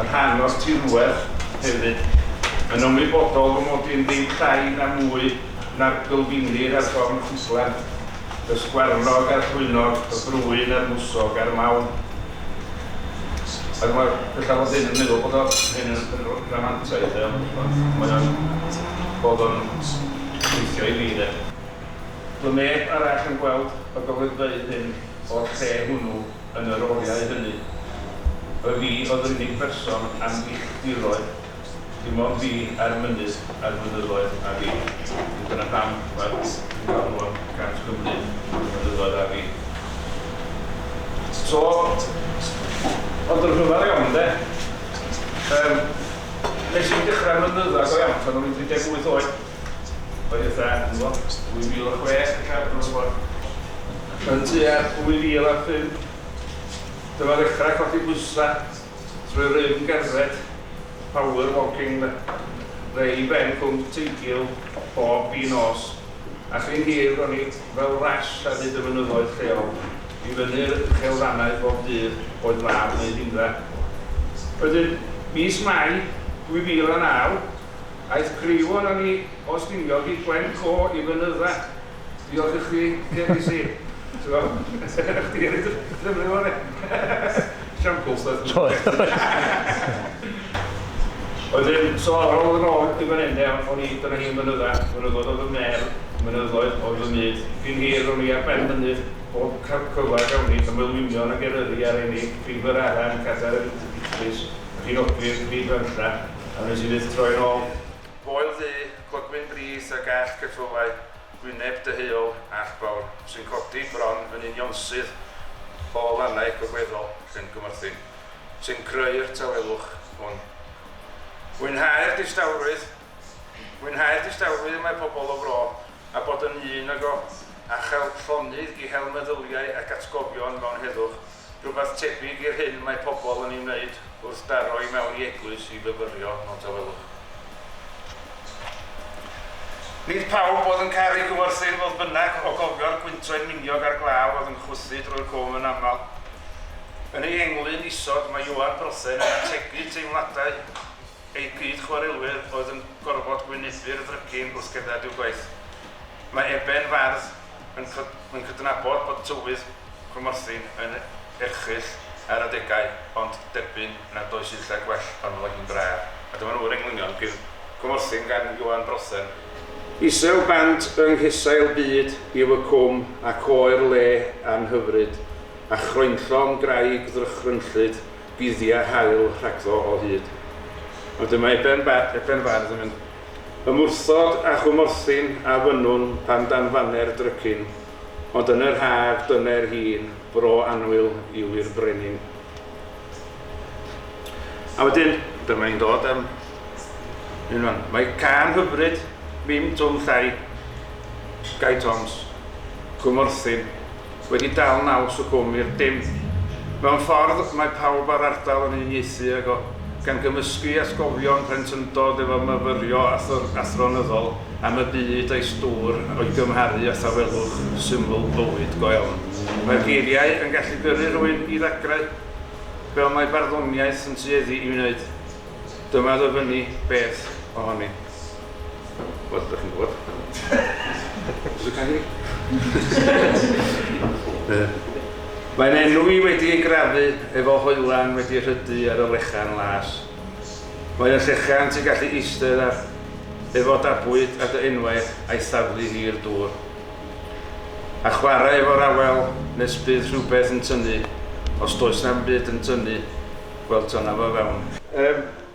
yn rhan o'r tirwedd hefyd, yn ymwybodol fy mod i'n ddim llai na mwy na'r gylfinir a'r gorn ffislan, y sgwarnog a'r llwynog, y brwyn a'r mwsog a'r mawn. Ac mae bellaf fod hyn yn meddwl bod o hyn yn yn r- ramantaidd de, ond ond mae o'n bod o'n gweithio i fi de. Doedd neb arall yn gweld y golygfeydd hyn o'r lle hwnnw. yn yr oriau hynny. Y fi oedd yr unig berson am filltiroedd, dim ond fi a'r mynydd a'r mynyddoedd a fi. Felly dyna pam mae'r Cwm Galwon gan Cymru y mynyddoedd a fi. So, ond yn rhyfedd iawn de, yym, nes i ddechrau mynydda go iawn pan o'n i'n 38, Roedd Fran yn Wobr 2006 yn cael Bro Bont. Yn tua 2005, dyma ddechrau codi bwysau trwy rym gerdded, power walking de, fe i ben Cwm Teigil bob gi nos, a chyn hir ro'n i fel Rash ar hyd y mynyddoedd lleol i fyny'r uchelfannau bob dydd oedd mab neu hindra. Wedyn, mis Mai 2009, Aeth Creion a ni o Stiniog i Gwen Co i fynydda. Diolch i chdi Delysi. T'bo? Chdi a neud y ffilmio fo de. Siampl stwff yndi? Wedyn so ar ôl yn ôl i fan 'yn de o- o'n i dyna hi yn fynydda, mynyddoedd oedd fy medd, mynyddoedd oedd fy myd. Cyn hir ro'n i ar ben mynydd bob ca- cyfla gawn ni, y Meulwynion ac Eryri a'r Eni, Rhif yr Aran, Cadair yr Idris, Rhinogydd, Rhyd Fenlla. A wnes i fyth troi'n ôl. Gŵyl ddu, clogwyn brith a gell ceffylau, gwyneb deheuol ac fawr, sy'n codi bron yn unionsyth o lannau gogleddol Llangymorthyn, sy'n creu'r tawelwch hwn. Mwynhau'r distawrwydd Mwynhau'r distawrwydd y mae pobl y fro a bod yn un ag o, a chael llonydd i hel meddyliau ac atgofion mewn heddwch. Rhywbeth tebyg i'r hyn mae pobl yn ei wneud wrth daro i mewn i eglwys i fyfyrio mewn tawelwch. Nid pawb oedd yn caru Cyfforthyn, fodd bynnag, o gofio'r gwyntoedd miniog a'r glaw oedd yn chwythu drwy'r cwm yn aml. Yn ei englyn isod mae Ioan Brothen yn ategu teimladau ei gyd-chwarelwyr oedd yn gorfod gwynebbu'r ddrygin wrth gerdded i'w gwaith. Mae Eben Fardd yn cydnabod bod tywydd Cwmorthin yn erchyll ar adegau ond derbyn nad oes un lle gwell pan fo hi'n braf. A dyma nhw yr englynion, Bydd Cwmorthin gan Ioan Brothen. Isel bant yng nghesail byd yw y cwm ac oer le anhyfryd a chroenllon graig ddrychrynllyd guddia haul rhagddo o hyd. Ond dyma Eben Bardd yn mynd Ymwrthod â chwmorthin a fynnwn pan danfane'r drycin, ond yn yr haf dyne'r hi'n fro annwyl i'w i'r brenin. A wedyn, dyma hi'n dod am hyn fan. Mae cân hyfryd, Mim Twm Llai, Gai Toms, Cwmorthin. wedi dal naws y cwm i'r dim. Mewn ffordd, mae pawb a'r ardal yn uniaethu ag o, gan gymysgu atgofion plentyndod efo myfyrio athronyddol am y byd a'i stŵr o'i gymharu â thawelwch syml bywyd go iawn. Mae'r geiriau yn gallu gyrru rhywun i ddagrau, fel mae barddoniaeth yn tueddu i wneud. Dyma ddyfynnu beth ohoni. Wel, dych chi'n gwybod. Dych chi'n gwybod. Mae'n enw i wedi ei grafu efo hoelan wedi rhydu ar y lechan las. Mae'n y llechan ti'n gallu eistedd ar efo da bwyd a dy enwau a'i thaflu hi i'r dŵr. A chwarae efo'r awel nes bydd rhywbeth yn tynnu, os does na'm byd yn tynnu, wel tynna fo fewn. Yym,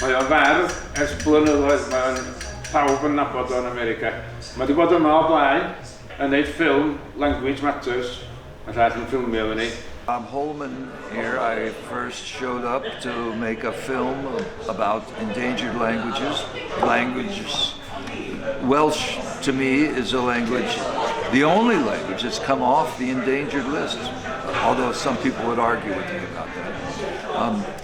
Mae o'n fardd ers blynyddoedd, mae o'n... pawb yn nabod o yn America. Mae wedi bod yma o blaen yn neud ffilm Language Matters, yn llall yn ffilmio efo ni. I'm Holman here, I first showed up to make a film about endangered languages, languages, Welsh to me is a language, the only language that's come off the endangered list, although some people would argue with me about that.